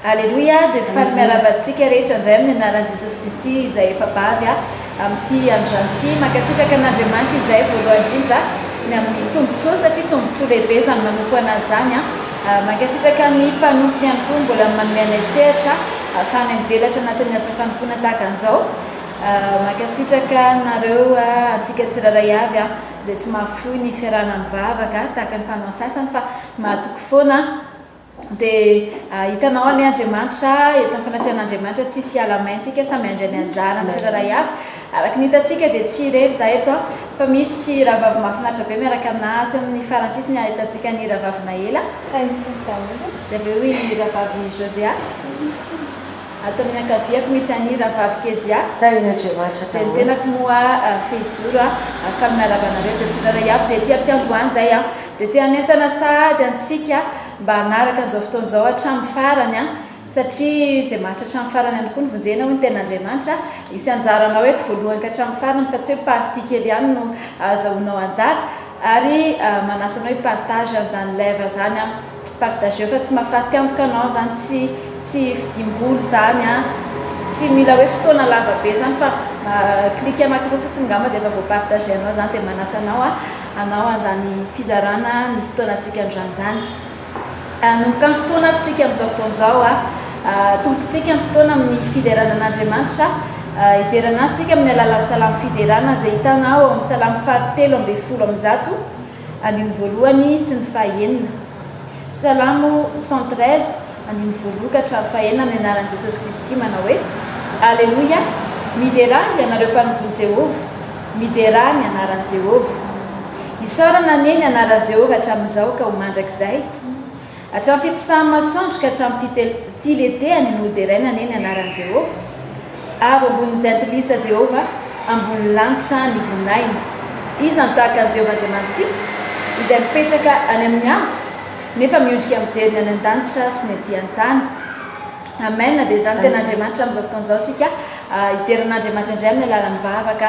Aleloia, dia faly miarahaba antsika rehetra indray amin'ny anaran'i Jesosy Kristy izay efa bavy a, amin'ity androany ity. Mankasitraka an'Andriamanitra izahay voalohany indrindra ny amin'ny tombontsoa satria tombontsoa lehibe izany manompo an'Azy izany a. Mankasitraka ny mpanompony ihany koa mbola manome anay sehatra ahafahanay mivelatra anatin'ny asa fanompoana tahaka an'izao. Mankasitraka anareo a, antsika tsirairay avy a, izay tsy mahafoy ny fiarahana mivavaka tahaka ny fanao sasany fa mahatoky foana. Dia hitanao anie Andriamanitra, eto amin'ny fanatrehan'Andriamanitra tsisy hiala main tsika, samy handray ny anjarany tsirairay avy. Araka ny hitantsika dia tsy irery izahay eto an, fa misy rahavavy mahafinaritra be miaraka aminay atsy amin'ny farany sisiny ahitantsika ny rahavavy Naela, hain'ny Tompo daholo, dia avy eo i rahavavy Josea, ato amin'ny ankaviako misy an'i rahavavy Kezia, dia ny tenako moa Fehizoro an, faly miarahaba anareo izay tsirairay avy, dia ety am-piandohana izay an. Dia te hanentana sahady antsika mba hanaraka an'izao fotoana izao hatramin'ny farany, satria izay maritra hatramin'ny farany ihany koa no vonjena, hoy ny Tenin'Andriamanitra. Hisy anjaranao eto voalohany ka hatramin'ny farany, fa tsy hoe partie kely ihany no ahazahoanao anjara. Ary manasa anao hi-partage an'izany live izany, partageo fa tsy mahafatiantoka anao izany, tsy tsy fidiam-bola izany, tsy mila hoe fotoana lava be izany fa clique anakiroa fotsiny angamba dia efa voa-partager-nao izany, dia manasa anao. hanao an'izany fizarana ny fotoanantsika androany izany. Hanomboka ny fotoana ary tsika amin'izao fotoana izao. Atombokintsika ny fotoana amin'ny fiderana an'Andriamanitra. Hiderana azy tsika amin'ny alalan'ny salamo fiderana izay hitana ao amin'ny salamo fahatelo ambin'ny folo amby zato, andininy voalohany sy ny fahenina. Salamo cent treize andininy voalokatra fahena amin'ny anaran'i Jesosy Kristy manao hoe, Aleloia, miderà ianareo mpanompon'i Jehovah, miderà ny anaran'i Jehovah. Isaorana anie ny anaran'i Jehovah hatramin'izao ka ho mandrakizay. Hatramin'ny fimpisahany masoandro ka hatramin'ny filetehan'ny ony ho deraina anie ny anaran'i Jehovah. Avo ambonin'ny Jentilisa Jehovah, ambonin'ny lanitra ny voninahiny. Iza no tahaka an'i Jehovah Andriamanitsika, izay mipetraka any amin'ny avo, nefa miondrika mijery ny any an-danitra sy ny aty an-tany? Amen, dia izany tena Andriamanitra amin'izao fotoana izao tsika, hidera an'Andriamanitra indray amin'ny alalan'ny vavaka,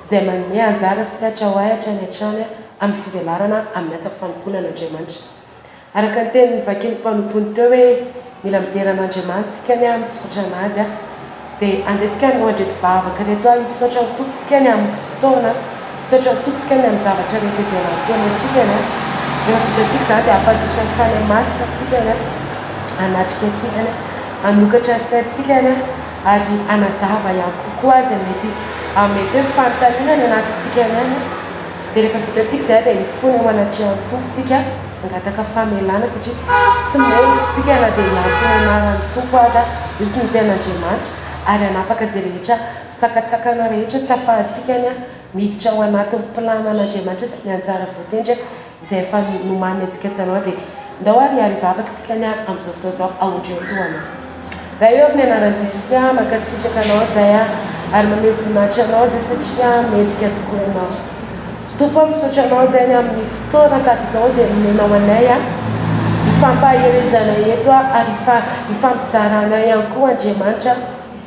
izay manome anjara sy hatra ho ahy hatrany hatrany amin'ny fivelarana amin'ny asa fanompoana an'Andriamanitra. Araka ny teny novakin'ny mpanompony teo hoe mila midera an'Andriamanitra isika anie amin'ny misaotra anazy a! dia andetsika hanao andreto vavaka ireto aho, Hisaotra ny Tompontsika ny amin'ny fotoana, hisaotra ny Tompontsika ny amin'ny zavatra rehetra izay nampihaona antsika ny a! rehefa vitantsika izany dia hampadiso ny fanahy masina isika ny a! hanatrika antsika ny a! hanokatra ny saintsika ny a! ary hanazava ihany kokoa izay mety hamety hoe fanontaniana any anatintsika any an, dia rehefa vitantsika izay dia hifona ho anatrehan'ny Tompo tsika hangataka famelana satria tsy mendrika tsika na dia hiantso ny anaran'ny Tompo aza izy ny tenin'Andriamanitra ary hanapaka izay rehetra sakantsakana rehetra tsy afahantsika any an, miditra ao anatin'ny planan' Andriamanitra sy ny anjara voatendry an. Izay efa nomaniny antsika sy anao dia ndao ary hiaro hivavaka isika anie amin'izao fotoana izao ahodreo ny lohanao. Ray ô amin'ny anaran'i Jesosy aho mankasitraka anao izay aho ary mamehy voninahitra anao izay satria mendrika tokoa ianao Tompo aho misaotra anao izay ny amin'ny fotoana tahaka izao izay nomenao anay aho hifampahaherezana eto aho ary hifampizarana ihany koa Andriamanitra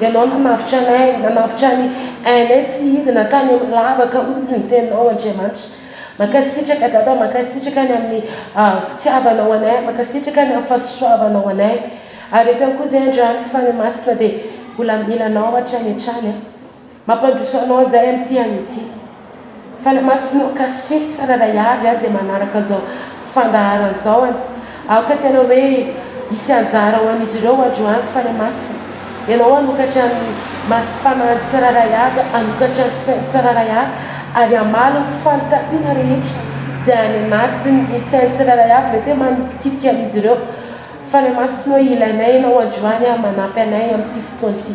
Ianao nanavotra anay, nanavotra ny ainay tsy izy na tany amin'ny lavaka hozy izy ny teninao Andriamanitra. Mankasitraka Dada, mankasitraka ny amin'ny fitiavanao anay, mankasitraka ny amin'ny fahasoavanao anay. Ary eto ihany koa izay Andriana fa ny Masina dia mbola mila anao hatrany hatrany. Mampandroso anao izay amin'ity andro ity. Fanamasinao cachet tsirairay avy aza e manaraka zao fandaharana zao an! Aoka tena hoe hisy anjara ho an'izy ireo androany fanamasina. Ianao hanokatra ny masom-panahin'ny tsirairay avy, hanokatra ny sain'ny tsirairay avy ary hamaly ny fanontaniana rehetra izay any anatin'ny sain'ny tsirairay avy mety hoe manitikitika an'izy ireo. Fanamasinao ilainay ianao androany an! Manampy anay amin'ity fotoana ity.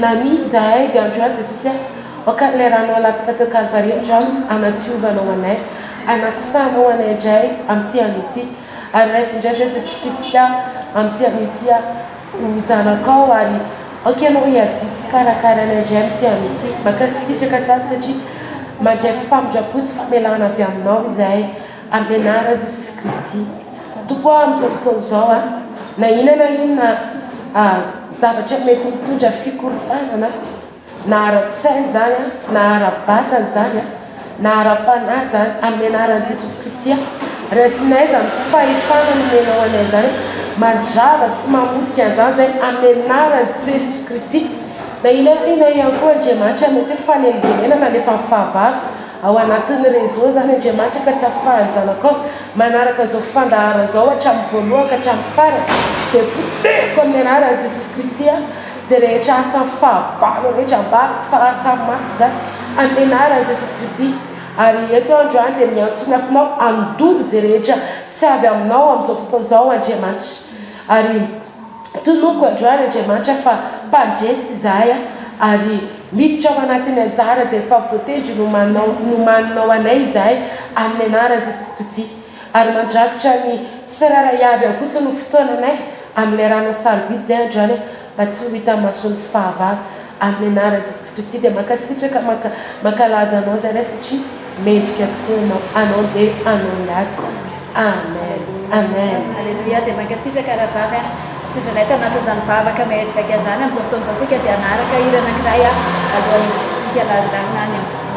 Na misy izahay dia androany Jesosy ah Hoakany ilay ranao alatsaka teo Kalvary Andramo hanadiovanao anay Hanasanao anay indray amin'ity andro ity Ary raiso indray izahay Jesosy Kristy ah Amin'ity andro ity ah Ho zanakao ary aoka ianao hiadidy sy hikarakara anay indray Amin'ity andro ity Mankasitraka sahady satria Mandray famindram-po sy famelana avy aminao izahay Amin'ny anaran'i Jesosy Kristy. Tompo ah, amin'izao fotoana izao ah, na inona na inona ah, zavatra mety mitondra fikorontanana, na ara-tsaina izany ah, na ara-batana izany ah, na ara-panahy izany, amin'ny anaran'i Jesosy Kristy ah, raisinay izany fahefana nomenao anay izany, mandrava sy mamotika an'izany izay amin'ny anaran'i Jesosy Kristy. Na inona na inona ihany koa Andriamanitra mety hoe fanelingelenana alefa amin'ny fahavalo, Ao anatin'ny réseau izany Andriamanitra ka tsy afahan'ny zanakao manaraka izao fandaharana izao hatramin'ny voalohany ka hatramin'ny farany dia potehiko amin'ny anaran'i Jesosy Kristy aho izay rehetra asan'ny fahavalo rehetra ambadiko fa asa maty izany amin'ny anaran'i Jesosy Kristy ary eto aho androany dia miantso ny afonao handoa izay rehetra tsy avy aminao amin'izao fotoana izao Andriamanitra ary Tonoko androany Andriamanitra fa mpandresy izahay a! ary miditra ao anatin'ny anjara izay efa voatendry nomanao nomaninao anay izahay amin'ny anaran'i Jesoa Kristy. Ary mandrakitra ny tsirairay avy ao kosa no fotoananay amin'ilay ranao sarobidy izay androany a! mba tsy ho hitan'ny mason'ny fahavalo. Amin'ny anaran'i Jesoa Kristy dia mankasitraka manka mankalaza anao izahay Ray satria Mendrika tokoa ianao anao dia anao iady Amen Amen. Aleloia dia mankasitraka rahavavy a mitondra anay tanatin'izany vavaka mahery vaika zany amin'izao fotoana izao tsika dia hanaraka hira anankiray a alohan'ny hiditsintsika lalindalina any amin'ny fotoana.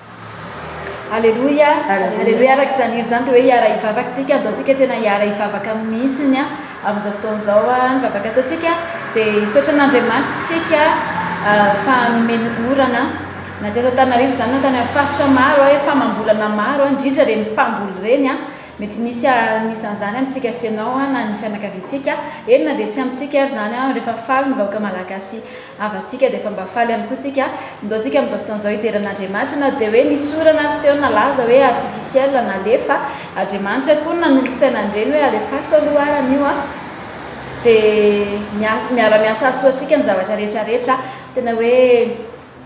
Aleloia, aleloia, araka izany hira izany dia hoe hiara hivavaka isika, andaontsika tena hiara hivavaka aminy mihitsy ny amin'izao fotoana izao ny vavaka ataontsika, dia hisaotra an'Andriamanitra isika fa nomeny orana na teto Antananarivo izany na tany amin'ny faritra maro hoe famam-bolana maro indrindra ireny mpamboly ireny, mety misy anisan'izany amintsika sy ianao na ny fianakaviantsika, eny na dia tsy amintsika ary izany rehefa faly ny vahoaka Malagasy. havantsika dia efa mba faly ihany koa tsika ndoantsika amin'izao fotoana izao hidera an'Andriamanitra na dia hoe nisy orana ary teo nalaza hoe artificiel nalefa Adriamanitra koa nanolotsaina an'ireny hoe alefaso aloha arany io an dia miara-miasa hahasoa antsika ny zavatra rehetra rehetra tena hoe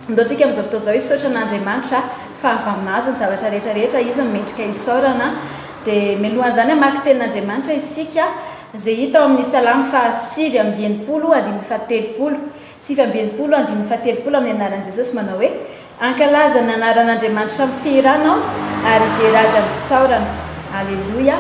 ndoantsika amin'izao fotoana izao hisaotra an'Andriamanitra fa avy amin'azy ny zavatra rehetra rehetra izy no mendrika hisaorana dia mialohan'izany hamaky tenin'Andriamanitra isika Izay hita ao amin'ny Salamo faha sivy amby enimpolo andininy faha telopolo, sivy amby enimpolo andininy faha telopolo amin'ny anaran'i Jesosy manao hoe, Ankalaza ny anaran'Andriamanitra amin'ny fihirana aho ary hidera Azy amin'ny fisaorana. Aleloia.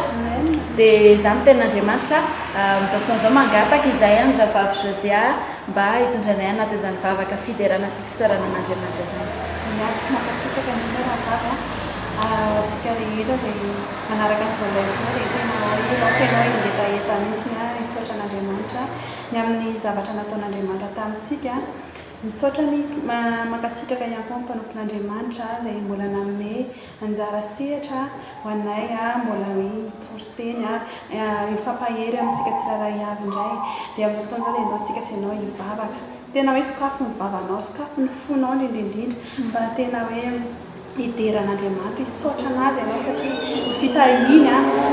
Dia izany ny tenin'Andriamanitra amin'izao fotoana izao. Mangataka izahay an'i Rahavavy Josiah mba hitondra anay anaty izany vavaka fiderana sy fisaorana an'Andriamanitra izany. Miaritra mankasitraka indrindra Rahavavy a. Ho antsika rehetra izay. manaraka an'izao indray izao dia tena hirao tena hoe hingetaheta mihitsiny aho hisaotra an'Andriamanitra ny amin'ny zavatra nataon'Andriamanitra tamintsika. Misaotra ny mankasitraka ihany koa ny mpanompon'Andriamanitra izay mbola nanome anjara sehatra ho anay mbola hoe hitory teny hifampahery amintsika tsirairay avy indray. Dia amin'izao fotoana izao dia ndao isika sy ianao hivavaka. Tena hoe sokafy ny vavanao, sokafy ny fonao indrindra indrindra mba tena hoe Hidera an'Andriamanitra, hisaotra an'Azy ianao satria ny fitahiany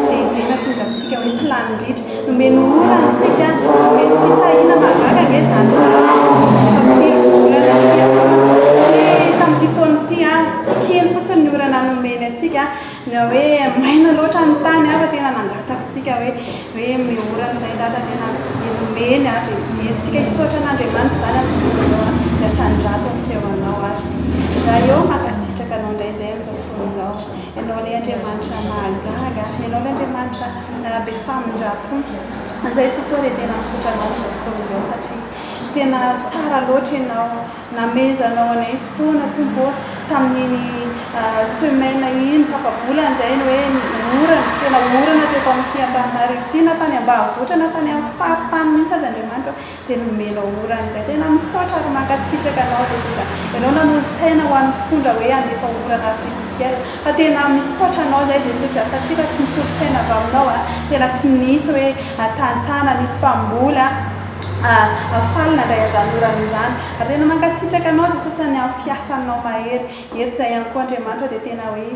dia izay nahatonga antsika hoe tsy lany ritra. Nomeny ora antsika, nomeny fitahiana mahagaga ange izany orana io. Efa firy volana aty an-tany? Satria tamin'ity taona ity aho, kely fotsiny ny orana nomeny antsika, na hoe maina loatra ny tany aho fa tena nangataka antsika hoe. hoe miora an'izay dada tena dia nomeny ary dia nomentsika hisaotra an'Andriamanitra izany ary tokony ho niasany rato ny feonao ary raha eo mankasitraka anao indray izay amin'izao fotoan'izao ianao ilay Andriamanitra mahagaga ianao ilay Andriamanitra be famindrampo izay tokoa dia tena misaotra anao amin'izao fotoana izao satria tena tsara loatra ianao Namezanao anay fotoana Tompo ô, tamin'iny semaine iny tapabolany izay ny hoe orana, tena orana teto amin'ity Antananarivo ity na tany ambanivohitra na tany amin'ny faritany mihitsy aza Andriamanitra ô, dia nomenao orana izay, tena misaotra ary mankasitraka anao Jesosa, ianao nanolo-tsaina ho an'ny mpitondra hoe handefa orana artificiel, fa tena misaotra anao izay Jesosy a, satria raha tsy ny tolo-tsaina avy aminao a, tena tsy nisy hoe tantsaha na nisy mpamboly a. Faly nandray an'izany orana izany. Rena mankasitraka anao Jesosy any amin'ny fiasanao mahery eto izay ihany koa Andriamanitra dia tena hoe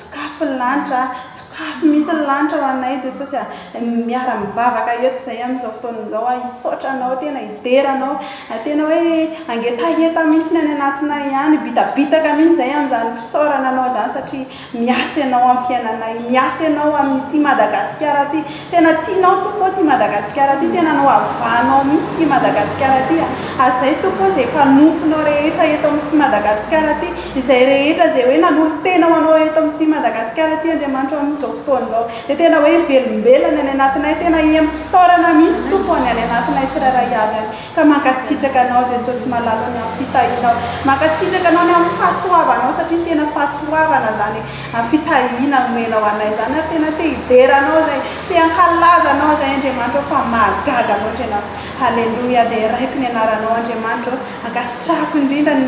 sokafy ny lanitra sokafy mihitsy ny lanitra ho anay Jesosy a miara mivavaka eto izay amin'izao fotoana izao aho hisaotra anao tena hidera anao tena hoe hangetaheta mihitsy ny any anatinay any bitabitaka mihitsy izay amin'izany fisaorana anao izany satria Miasa ianao amin'ny fiainanay, miasa ianao amin'ity Madagasikara ity, tena tianao Tompo ô ity Madagasikara ity, tena nohavanao mihitsy ity Madagasikara ity a, ary izay Tompo ô izay mpanomponao rehetra eto amin'ity Madagasikara ity, izay rehetra izay hoe nanolo-tena ho anao eto amin'ity Madagasikara ity Andriamanitro amin'izao fotoana izao, dia tena hoe velombelona ny any anatinay, tena hiha-misaorana mihitsy Tompo ho an'ny any anatinay tsirairay avy any, Ka mankasitraka anao Jesosy malala ny am fitahianao mankasitraka anao ny am fahasoavanao satria tena fahasoavana zany e am fitahiana omenao anay zany ary tena te hidera anao zay te hankalaza anao zay Andriamanitra o fa mahagaga loatra ianao haleloia de raiko ny anaranao Andriamanitra o ankasitrahako indrindra ny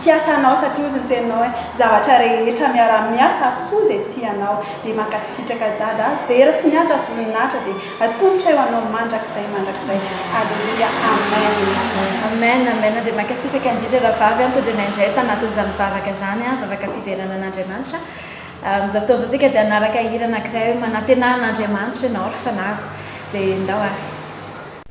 Fiasa anao satria ozy ny teninao eh zavatra rehetra miara miasa soa zay tianao de mankasitraka dada ah vera sy mihaja voninahitra de atolotray ho anao mandrakizay mandrakizay aleloia amen. Amen amen dia mankasitraka indrindra Rahavavy an, tondroinay indray tanatin'izany vavaka izany an, vavaka fiderana an'Andriamanitra. Amin'izao fotoana izao tsika dia hanaraka hira anankiray hoe manantenà an'Andriamanitra ianao ry fanahiko. Dia ndao ary.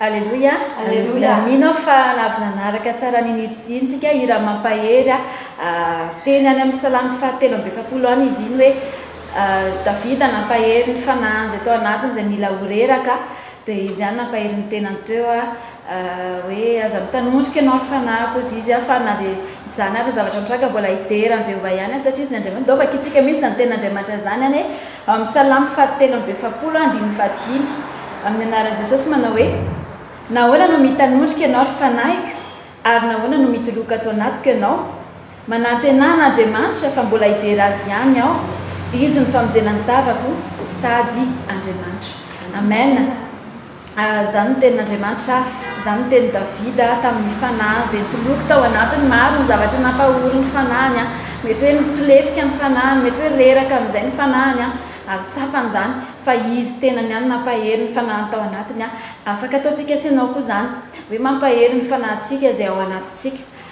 Aleloia Aleloia Mino aho fa na avy nanaraka tsara an'iny hira ity intsika Hira mampahery aho Teny any amin'ny salamo fahatelo amby efapolo any izy iny hoe Davida nampahery ny fanahiny izay tao anatiny izay mila ho reraka Dia izy ihany nampahery ny tenany teo hoe Aza mitanondrika ianao ry fanahiko hozy izy aho Fa na dia izany ary ny zavatra mitranga mbola hidera an'i Jehovah ihany aho Satria izy ny Andriamanitra Dovaka isika mihitsy izany tenin'Andriamanitra izany anie Amin'ny Salamo fahatelo amby efapolo andininy fahadimy, amin'ny anaran'i Jesosy manao hoe, Nahoana no mitanondrika ianao ry fanahiko, ary nahoana no mitoloka ato anatiko ianao? Manantenà an'Andriamanitra fa mbola hidera azy ihany aho, izy no famonjena ny tavako sady Andriamanitro. Amen. Izany no tenin'Andriamanitra, izany no tenin'i Davida tamin'ny fanahy izay nitoloko tao anatiny. Maro ny zavatra nampahory ny fanahiny, mety hoe nitolefika ny fanahiny, mety hoe reraka amin'izay ny fanahiny, ary tsapany izany fa Izy tenany ihany nampahery ny fanahiny tao anatiny. Afaka ataontsika sy ianao koa izany, hoe mampahery ny fanahintsika izay ao anatintsika.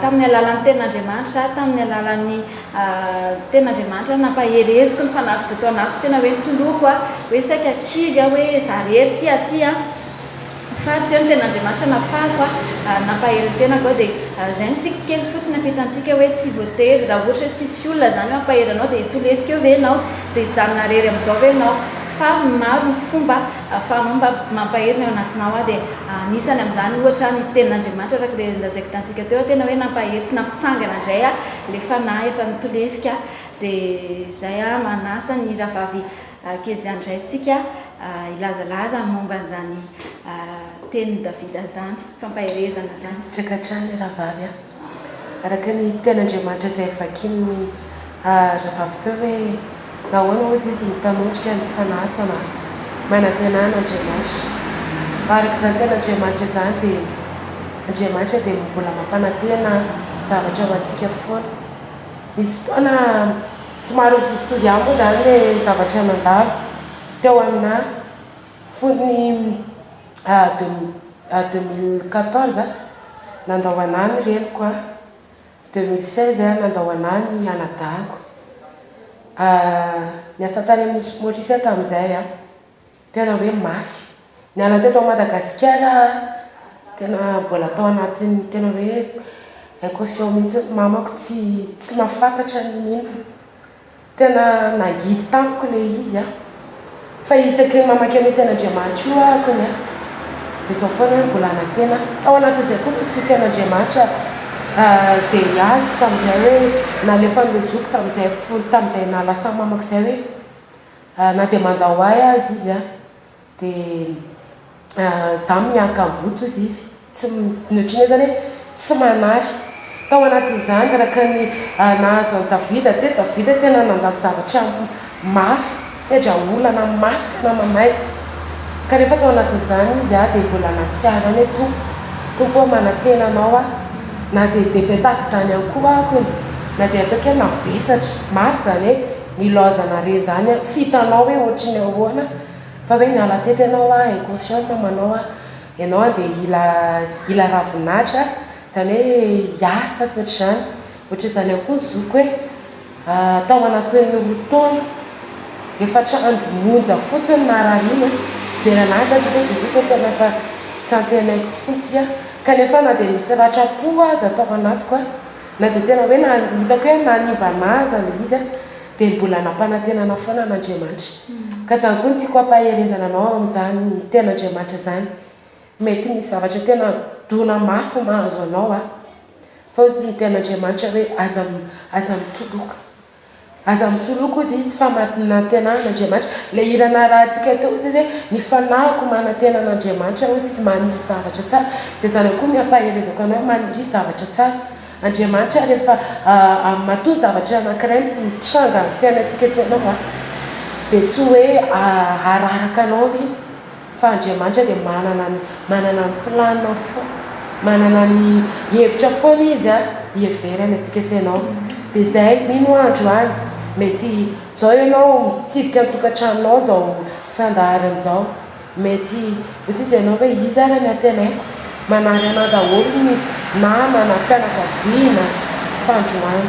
Tamin'ny alalan'ny Tenin'Andriamanitra, tamin'ny alalan'ny Tenin'Andriamanitra no nampahereziko ny fanahiko izay tao anatiko, tena hoe nitoloko aho, hoe saika kivy aho, hoe izaho irery ity aty an, faly teo ny Tenin'Andriamanitra nafahako ary nampahery ny tenako aho, dia izay no tiako kely fotsiny hampita antsika hoe tsy voatery, raha ohatra hoe tsisy olona izany mampahery anao dia tolefika eo ve ianao, dia hijanona irery amin'izao ve ianao, fa maro ny fomba Ahafahanao mba mampahery ny ao anatinao aho. Dia anisany amin'izany, ohatra, ny Tenin'Andriamanitra, araka ilay ilay izay kitantsika teo, tena hoe nampahery sy nampitsangana indray ahy ilay Fanahy efa nitolefika. Dia izay, manasa ny rahavavy Kezia indray isika hilazalaza ny momba an'izany Tenin'i Davida izany, fampaherezana izany. Mankasitraka hatrany rahavavy a. araka ny tenin'Andriamanitra izay vakin'ny rahavavy teo hoe nahoana hozy izy mitanondrika ny fanahy ato anaty manantenà an'Andriamanitra. Araka izany tenin'Andriamanitra izany dia Andriamanitra dia mbola mampanantena zavatra ho antsika foana. Nisy fotoana somary nitovitovy ihany moa izany ilay zavatra nandalo teo aminà fony. deux mille quatorze a nandao anah ny reniko a, deux mille seize a nandao anah ny anadahiko, niasa tany amin'ny nosy Maurice aho tamin'izay a, tena hoe mafy, niala teto Madagasikara aho tena mbola tao anatin'ny tena hoe incoscient mihintsy, mamako tsy tsy mahafantatra ny inona, Tena nagidy tamiko le izy a! Fa isaky ny mamaky an'io tenin'Andriamanitra io aho kony a! Dia izao foana hoe mbola hanantena aho. Tao anatin'izay koa nisy tenin'Andriamanitra izay azoko tamin'izay hoe nalefan'ilay zokiko tamin'izay fo tamin'izay naha lasa mamako izay hoe na dia mandao ahy aza izy a! dia za miaka-boto hozy izy tsy ny ohatran'ny hoe zany hoe tsy manary tao anatin'izany araka ny nahazo an'i Davida dia Davida tena nandalo zavatra mafy sedra olana mafy tena mamay kanefa tao anatin'izany izy ah dia mbola nahatsiaro any hoe Tompo Tompo ah manantena anao aho na dia bebe tahaka izany ihany koa aho na dia ataoko hoe mavesatra mafy izany hoe Nilaozana re zany a, tsy hitanao hoe ohatry ny ahoana, fa hoe niala teto ianao a, inconscient ny mamanao a, ianao a dia hila hila ravin'ahitra, izany hoe hiasa sy ohatr'izany, ohatr'izany ihany koa ny zokiko hoe tao anatin'ny roa taona, efatra andro monja fotsiny narariany a, nijery an'ahy zah dia hoe Jesosy a, tena fa tsy antenaiko intsony ity a, kanefa na dia nisy ratra-po aza tao anatiko a. Na dia tena hoe na hitako hoe na ny mba na aza ilay izy an, dia mbola nampanantenana foana an'Andriamanitra. Ka izany koa no tiako hampaherezana anao amin'izany Tenin'Andriamanitra izany. Mety misy zavatra tena dona mafy mahazo anao an, fa hoy ny Tenin'Andriamanitra hoe aza aza mitoloka. Aza mitoloko ozy izy fa matinantena an Andriamanitra le hira narahantsika teo ozy izy ny fanahiko manantena an Andriamanitra ozy izy maniry zavatra tsara de zany koa ny ampaherezako anao maniry zavatra tsara Andriamanitra refa a matoa zavatra anakiray mitranga am fiainantsika sy anao a de tsy oe araraka anao iny Fa Andriamanitra dia manana ny manana ny planiny fo manana ny hevitra foana izy a hiheverany antsika sy ianao dia izay mino aho andro any mety zao ianao mitsidika ny tokantranonao zao fandaharana zao mety ho sisa ianao hoe iza ary ny antenay manary anah daholo ny namana fianakaviana fa androany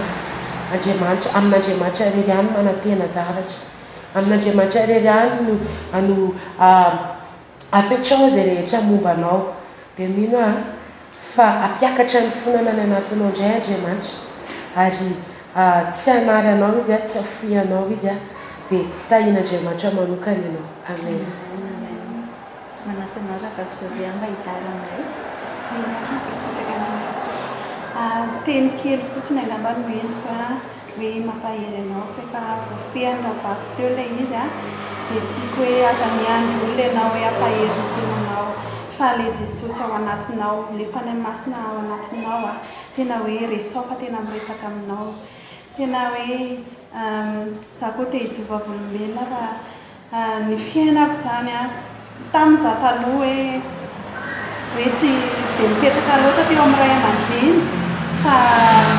Andriamanitra amin'Andriamanitra irery ihany manantena zavatra Amin'Andriamanitra irery ihany no ano a apetraho izay rehetra momba anao dia mino aho fa hampiakatra ny fonana any anatinao indray Andriamanitra ary a tsy hanary anao izy a tsy hafoy anao izy a dia tahian'Andriamanitra manokana ianao amen. Manasa anao Ravalo José aho mba hizara aminay. Miarahaba sitraka indrindra. Teny kely fotsiny angamba no entiko a, hoe mampahery anao fa efa voafehiny Ravalo teo ilay izy a, dia tiako hoe aza miandry olona ianao hoe hampahery ny tenanao fa ilay Jesosy ao anatinao, ilay Fanahy Masina ao anatinao a, tena hoe resaho fa tena miresaka aminao. Tena hoe izaho koa te hijoro vavolombelona fa. Ny fiainako izany an! Tamin'ny izaho taloha hoe hoe tsy tsy dia mipetraka loatra teo amin'ny ray aman-dreny fa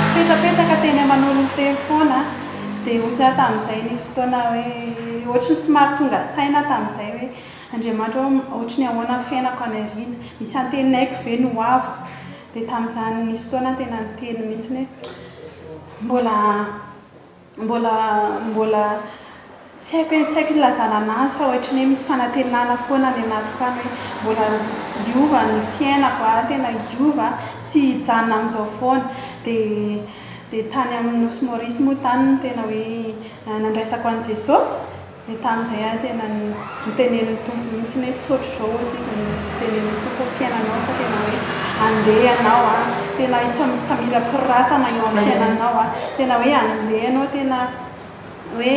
mipetrapetraka teny aman'olona teny foana an! Dia hoy izaho tamin'izay nisy fotoana hoe ohatran'ny somary tonga saina aho tamin'izay hoe Andriamanitra ô ohatry ny ahoana ny fiainako any aoriana? Misy antenaiko ve ny ho aviko? Dia tamin'izany nisy fotoana aho tena niteny mihitsy hoe mbola Mbola mbola tsy haiko hoe tsy haiko ilazana anazy fa ohatry ny hoe misy fanantenana foana any anatiko any hoe mbola hiova ny fiainako a, tena hiova a, tsy hijanona amin'izao foana. Dia dia tany amin'ny Nosy Maurice moa tany no tena hoe nandraisako an'i Jesosy. Dia tamin'izay aho tena nitenenin'ny Tompo mihitsy hoe tsy ohatr'izao hoy izy nitenenin'ny Tompo ny fiainanao fa tena hoe andeha ianao an, tena isan'ny mifamirapiratana eo amin'ny fiainanao an, tena hoe andeha ianao tena hoe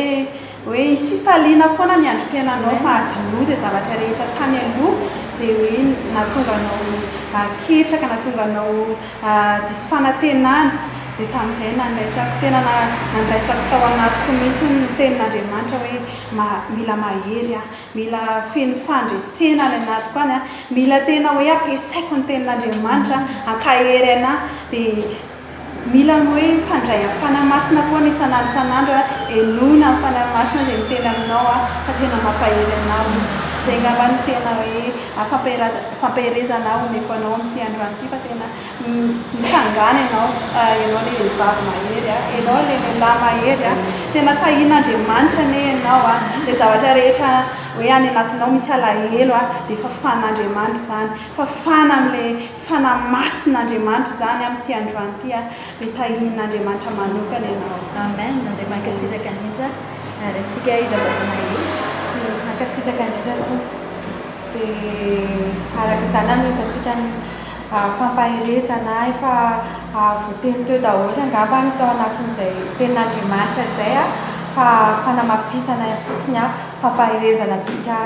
hoe hisy fifaliana foana ny androm-piainanao fa adinoy izay zavatra rehetra tany aloha izay hoe nahatonga anao ketraka, nahatonga anao diso fanantenana, dia tamin'izay nandraisako, tena nandraisako tao anatiko mihitsy ny tenin'Andriamanitra hoe mila mahery aho, mila feno fandresena any anatiko any aho, mila tena hoe ampiasaiko ny tenin'Andriamanitra hampahery anà, dia mila ny hoe mifandray amin'ny Fanahy Masina foana isan'andro isan'andro aho, henoina amin'ny Fanahy Masina izay miteny aminao aho fa tena mampahery anao izy, izay angamba no tena hoe Fampaherezana aho omeko anao ity androany ity fa tena nitsangana ianao, ianao ilay vehivavy mahery a, ianao ilay lehilahy mahery a, tena tahian'Andriamanitra anie ianao a, ilay zavatra rehetra hoe any anatinao misy alahelo a dia fafan'Andriamanitra izany, fafana amin'ilay fa namasina Andriamanitra izany amin'ity androany ity a dia tahian' Andriamanitra manokana ianao. Amen dia mankasitraka indrindra ary antsika hira vavonay hira. Dia mankasitraka indrindra Tompo dia araka izany anohizatsika ny fampaherezana efa voateny teo daholo angamba ny tao anatin'izay tenin'Andriamanitra izay a fa fanamafisana fotsiny a fampaherezana antsika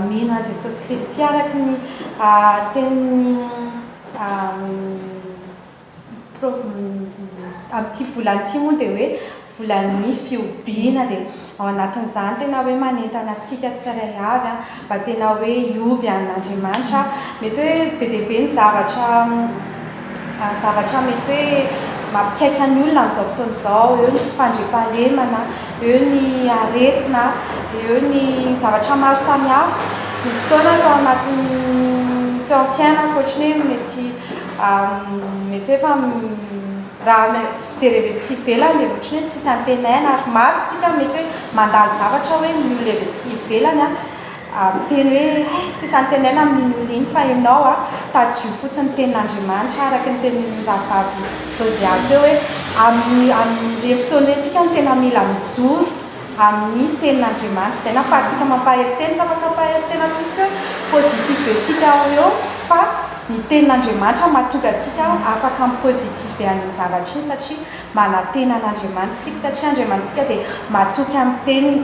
Mino an'i Jesosy Kristy araka ny tenin'ny amin'ity volana ity moa dia hoe volan'ny fihobiana dia ao anatin'izany tena hoe manentana antsika tsirairay avy mba tena hoe hioby an'Andriamanitra. Mety hoe be dia be ny zavatra zavatra mety hoe mampikaika ny olona amin'izao fotoana izao, eo ny tsy fandriampahalemana, eo ny aretina, eo ny zavatra maro samihafa. Nisy fotoana tao anatin'ny, teo amin'ny fiainako ohatran'ny hoe mety mety hoe efa raha ny fijery avy aty ivelany dia ohatran'ny hoe tsisy antenaina ary maro isika mety hoe mandalo zavatra hoe ny olona avy aty ivelany a. ary miteny hoe, Hay, tsy isantenaina amin'iny olona iny fa ianao a, tadidio fotsiny ny tenin'Andriamanitra araka ny tenin'ny rahavavy Josiah teo hoe, amin'ny amin'ireny fotoana ireny isika no tena mila mijoro amin'ny tenin'Andriamanitra. Izay nahafahantsika mampahery tena, tsy afaka mampahery tena fotsiny hoe positive antsika eo ho eo fa ny tenin'Andriamanitra no mahatonga antsika afaka mi-positive an'iny zavatra iny satria manantena an'Andriamanitra isika satria Andriamanitsika dia matoky amin'ny teniny.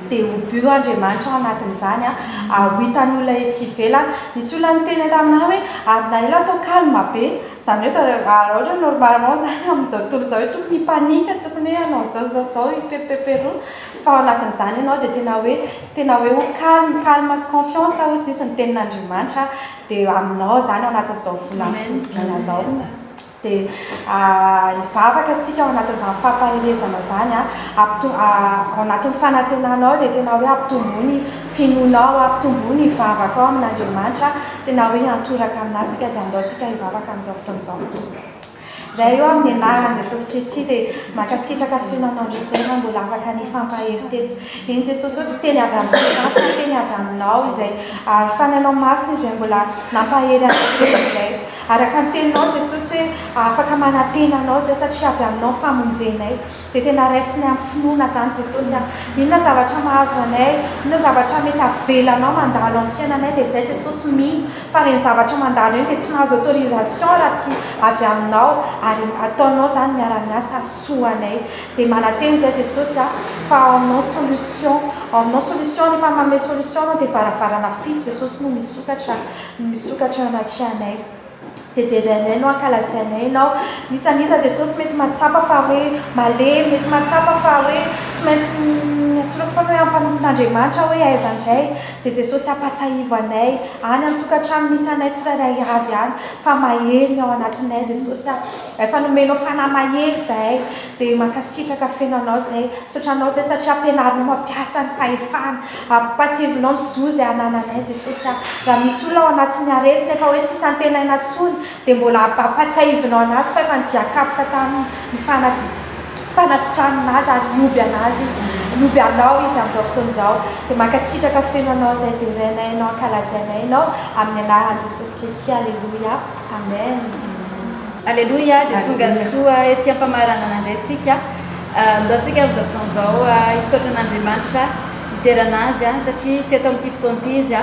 dia ho bu Andriamanitra ao anatin'izany aho, ho hitan'ny olona etsy ivelany. Nisy olona niteny taminà hoe, ary na ela atao calme be, izany hoe zareo, raha ohatra hoe normalement izany amin'izao tontolo izao hoe tokony hipanika, tokony hoe hanao izao izao izao, hiperoperoperoa, fa ao anatin'izany ianao dia tena hoe, tena hoe ho calme, calme sy confiance hozy izy ny tenin'Andriamanitra dia aminao izany ao anatin'izao volana fodiana izao. Dia hivavaka tsika ao anatin'izany fampaherezana izany ao anatin'ny fanantenana ao dia tena hoe ampitomboa ny finoanao ampitomboa ny vavakao amin'Andriamanitra tena hoe hiantoraka amin'azy tsika dia andao tsika hivavaka amin'izao fotoana izao izay eo amin'ny anaran'i Jesosy Kristy dia mankasitraka finoanao indray izay raha mbola afaka ny hifampahery teto eny Jesosy eo tsy teny avy amin'ny za fa teny avy aminao izay ny fanahinao masina izay mbola nampahery anay teto izay Araka ny teninao Jesosy hoe afaka manantena anao izay satria avy aminao ny famonjenay. Dia tena raisinay amin'ny finoana izany Jesosy a. Inona zavatra mahazo anay, inona zavatra mety avelanao mandalo amin'ny fiainanay dia izay Jesosy mino fa ireny zavatra mandalo ireny dia tsy mahazo autorisation raha tsy avy aminao ary ataonao izany miara miasa soa anay. Dia manantena izay Jesosy a fa ao aminao ny solution, ao aminao solution rehefa manome solution anao dia varavarana fito Jesosy no misokatra. Misokatra anaty anay. Dia derainay no ankalazainay Ianao. N'iza n'iza, Jesosy, mety mahatsapa fa hoe malemy, mety mahatsapa fa hoe tsy maintsy miatoraka foana hoe ampanompon'Andriamanitra aho hoe aiza indray, dia Jesosy ampahatsiahivo anay, any an-tokantrano misy anay tsirairay avy any, fa mahery ny ao anatinay, Jesosy a. Efa nomenao fanahy mahery izahay. Dia mankasitraka feno anao zay. Misaotra anao zay satria ampianarinao mampiasa ny fahefana. Ampatsiavinao ny zo izay anananay Jesosy a. Raha misy olona ao anatin'ny aretina efa hoe tsisy antenaina intsony dia mbola ampatsiahivinao anazy fa efa nidian-kapoka taminy ny fana fanasitranina azy ary nihoby anazy izy nihoby anao izy amin'izao fotoana izao. Dia mankasitraka feno anao zay dia renay anao ankalazainay anao amin'ny anaran'i Jesosy Kesia. Aleloia. Amen. Aleloia, dia tonga soa ety am-pamaranana indray tsika. Ndao tsika amin'izao fotoana izao hisaotra an'Andriamanitra niterana azy, satria teto amin'ity fotoana ity izy.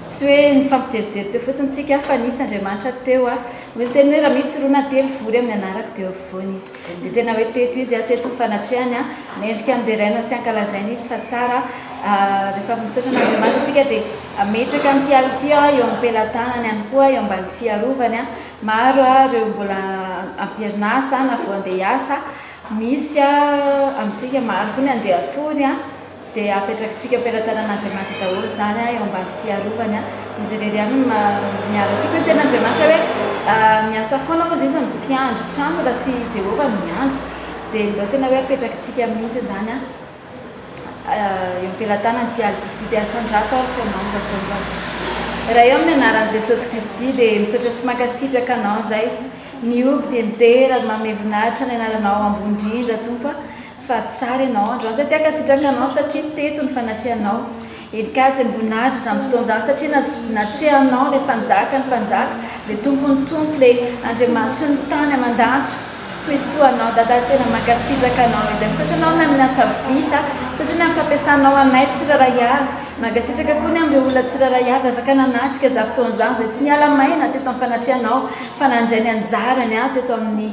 Tsy hoe nifampijerijery teo fotsiny tsika fa nisy Andriamanitra teo. Hoy ny teniny hoe raha misy roa na telo mivory amin'ny anarako dia eo afovoany izy. Dia tena hoe teto izy, teto ny fanatrehany. Mendrika handeraina sy hankalazaina izy fa tsara rehefa misaotra an'Andriamanitra isika dia. Hametraka an'ity alo ity aho eo am-pelatanany ihany koa eo ambany fiarovany. Maro ireo mbola am-perinasa na vao handeha hiasa. Misy amintsika maro koa ny handeha hatory dia hapetrakintsika am-pelatanan'Andriamanitra daholo izany eo ambany fiarovany. Izy irery ihany no miaro antsika. Hoy ny tenin'Andriamanitra hoe miasa foana hozy izy no mpiandry trano raha tsy i Jehovah no miandry. Dia ndao tena hoe hapetrakintsika mihitsy izany. eo am-pelatanana ity aly tsy fitody asan-drato ary feno lamina izao fotoana izao. Ray ô amin'ny anaran'i Jesosy Kristy dia misaotra sy mankasitraka anao izay mihoby dia midera ary manome voninahitra ny anaranao ambony indrindra Tompo a! fa tsara ianao androany izay te hankasitraka anao satria teto ny fanatrehanao Eny kajy ny voninahitry izany fotoana izany satria na natrehanao ilay mpanjaka ny mpanjaka ilay tompon'ny tompo ilay Andriamanitry ny tany aman-danitra tsy misy toa anao dadah tena mankasitraka anao izay misaotra anao ny amin'ny asa vita misaotra ny amin'ny fampiasanao anay tsirairay avy mankasitraka koa ny amin'ireo olona tsirairay avy afaka nanatrika izany fotoana izany izay tsy niala maina teto amin'ny fanatrehanao fa nandray ny anjarany ahy teto amin'ny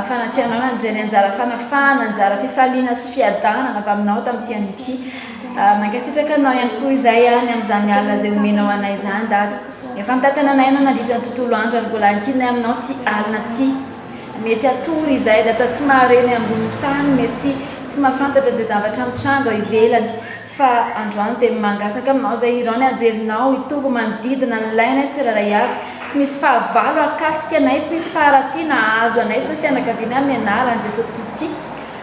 fanatrehanao nandray ny anjara fanafahana anjara fifaliana sy fiadanana avy aminao tamin'ity anio ity Mankasitraka anao ihany koa izahay any amin'izany alina izay omenao anay izany Dada. Efa nitantana anay ianao nandritra ny tontolo andro ary mbola ankinay aminao ity alina ity. Mety hatory izahay Dada tsy mahare ny ambonin'ny tany, mety tsy mahafantatra izay zavatra mitranga ao ivelany fa androany dia mangataka aminao izay hirao ny anjelinao hitombo manodidina ny lainay tsirairay avy. Tsy misy fahavalo hahakasika anay, tsy misy faharatsiana hahazo anay sy ny fianakavianay amin'ny anaran'i Jesosy Kristy.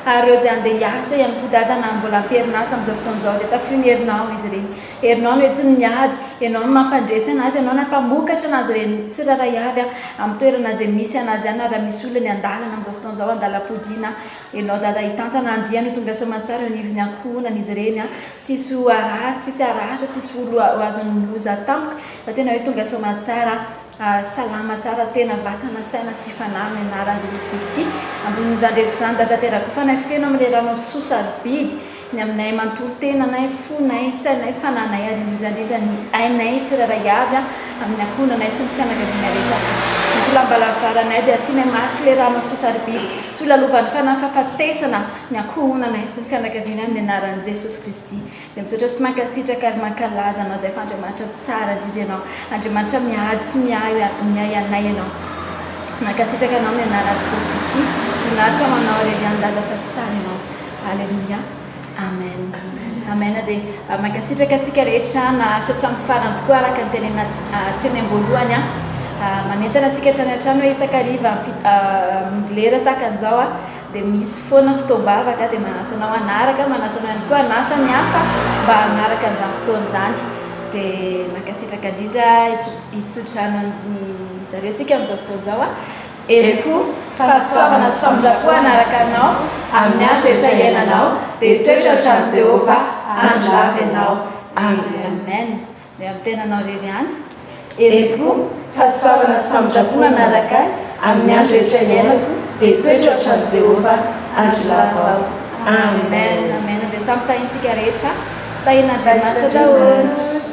Ary ireo izay handeha hiasa ihany koa Dada na mbola am-perinasa amin'izao fotoana izao dia tafio ny herinao izy ireny. Herinao no entin'ny miady, ianao no mampandresy an'azy, ianao na mpamokatra an'azy ireny tsirairay avy an, amin'ny toerana izay misy an'azy any na raha misy olona ny an-dalana amin'izao fotoana izao an-dalam-podiana, ianao Dada hitantana andiany ho tonga soamantsara eo anivon'ny ankohonan'izy ireny an, tsisy ho harary, tsisy harahatra, tsisy ho azon'ny loza tampoka fa tena hoe tonga soamantsara. Aah salama tsara tena vatana saina sy fanahy amin'ny anaran'i Jesosy Kristy ambonin'izany rehetra izany Dada Terakofanay feno amin'ilay ranao soa sarobidy ny aminay manontolo tenanay, fonay, tsainay, fananay ary indrindra indrindra ny ainay tsirairay avy an amin'ny ankohonanay sy ny fianakavianay rehetra Tojo ny tolam-balavaranay dia asianay mariky ilay ranao soa sarobidy tsy ho lalovan'ny fanahy fahafatesana ny ankohonanay sy ny fianakavianay amin'ny anaran'i Jesosy Kristy Dia misaotra sy mankasitraka ary mankalaza anao izay fa Andriamanitra tsara indrindra ianao. Andriamanitra miady sy miahy anay ianao. Mankasitraka anao amin'ny anaran'i Jesosy Kristy. Voninahitra ho anao irery ihany Dada fa tsara ianao. Aleloia. Amen. Amen dia mankasitraka antsika rehetra naharitra hatramin'ny farany tokoa araka ny tenenina hatreny am-boalohany. Manentana antsika hatrany hatrany hoe isaka hariva lera tahaka an'izao. dia misy foana fotoam-bavaka dia manasa anao hanaraka, manasa anao ihany koa hanasa ny hafa mba hanaraka an'izany fotoana izany. Dia mankasitraka indrindra i Tsodrano an'i zareo antsika amin'izao fotoana izao a! Herim-po, fahasoavana sy famindram-po hanaraka anao amin'ny andro rehetra iainanao, dia toetra ny tranon'i Jehovah handry lava ianao. Amen. Miaro tena anao irery ihany. Ery tokoa, fa tsy fahafahana sy famindram-po manaraka ahy amin'ny andro rehetra iainako, dia toetra hatramin'i Jehovah andro lava aho. Amen. Amen. Dia samy tahintsika rehetra. Tahin'Andriamanitra daholo.